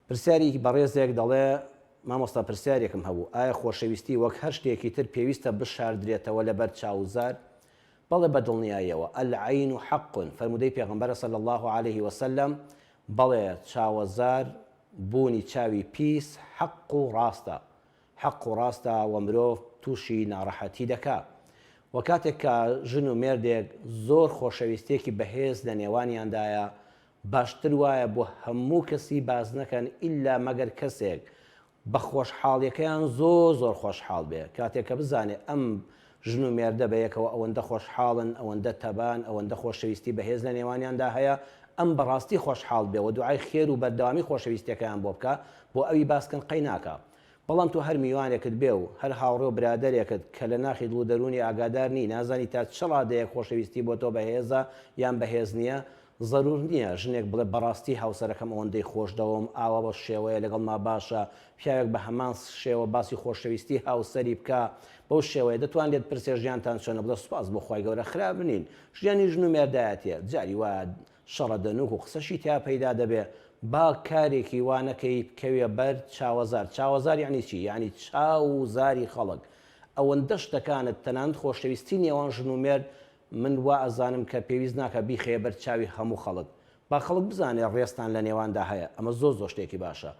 پرسیارێکی بەڕێزێک دەڵێ، مامۆستا پرسیارێکم هەبوو، ئایا خۆشەویستی وەک هەر شتێکی تر پێویستە بشاردرێتەوە لەبەر چاو و زار؟ بەڵێ بە دڵنیاییەوە، العین حق، فەرموودەی پێغەمبەرە صلی اللە علیە وسلم، بەڵێ چاوەزار بوونی چاوی پیس حەق و ڕاستە، حەق و ڕاستە وە مرۆڤ توشی ناڕەحەتی دەکا وە کاتێک کە ژن و مێردێک زۆر خۆشەویستیەکی بەهێز لە نێوانیاندایە باشتر وایە بۆ هەموو کەسی باس نەکەن ئیلا مەگەر کەسێک بە خۆشحاڵیەکەیان زۆر زۆر خۆشحاڵ بێ کاتێک کە بزانێ ئەم ژن و مێردە بەیەکەوە ئەوەندە خۆشحاڵن ئەوەندە تەبان ئەوەندە خۆشەویستی بەهێز لە نێوانیاندا هەیە ئەم بەڕاستی خۆشحاڵ بێ وە دوعای خێر و بەردەوامی خۆشەویستیەکەیان بۆ بکا بۆ ئەوی باس کەن قەی ناکا بەڵام تۆ هەر میوانێکت بێ و هەر هاوڕێ و برادەرێکت کە لە ناخی دڵ و دەروونی ئاگادار نی، نازانی تا چ ڕادەیەک خۆشەویستی بۆ تۆ بەهێزە یان بەهێز نییە، زەروور نییە ژنێک بڵێ بەڕاستی هاوسەرەکەم ئەوەندەی خۆش دەوەم، ئاوا بەو شێوەیە لەگەڵما باشە، پیاوێک بە هەمان شێوە باسی خۆشەویستی هاوسەری بکا بەو شێوەیە، دەتوان لێت پرسێ ژیانتان چۆنە بڵێ سوپاس بۆ خوای گەورە خراپ نین، ژیانی ژن و مێردایەتیە جاری وایە شەڕە دەنووک و قسەشی تیا پەیدا دەبێ با کارێکی وا نەکەی بکەویە بەر چاوەزار چاوەزار یەعنی چی یەعنی چاو و زاری خەڵک ئەوەندە شتەکانت تەنانەت خۆشەویستی نێوان ژن و مێرد من وا ئەزانم کە پێویست ناکا بیخەیە بەر چاوی هەموو خەڵک با خەڵک بزانێ ڕێزتان لە نێواندا هەیە ئەمە زۆر زۆر شتێکی باشە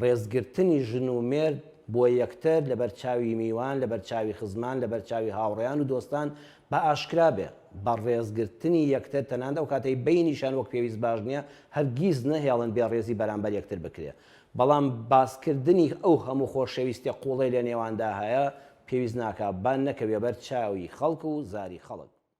ڕێزگرتنی ژن و مێرد بۆ یەکتر لە بەر چاوی میوان، لە بەر چاوی خزمان، لە بەر چاوی هاوڕێیان و دۆستان با ئاشکرا بێ. بە ڕێزگرتنی یەکتر تەنانەت ئەو کاتەی بەینیشان وەک پێویست باش نیە، هەرگیز نەهێڵن بێ ڕێزی بەرامبەر یەکتر بکرێ. بەڵام باسکردنی ئەو هەموو خۆشەویستیە قوڵەی لە نێواندا هەیە، پێویست ناکا با نەکەوێ بەر چاوی خەڵک و زاری خەڵک.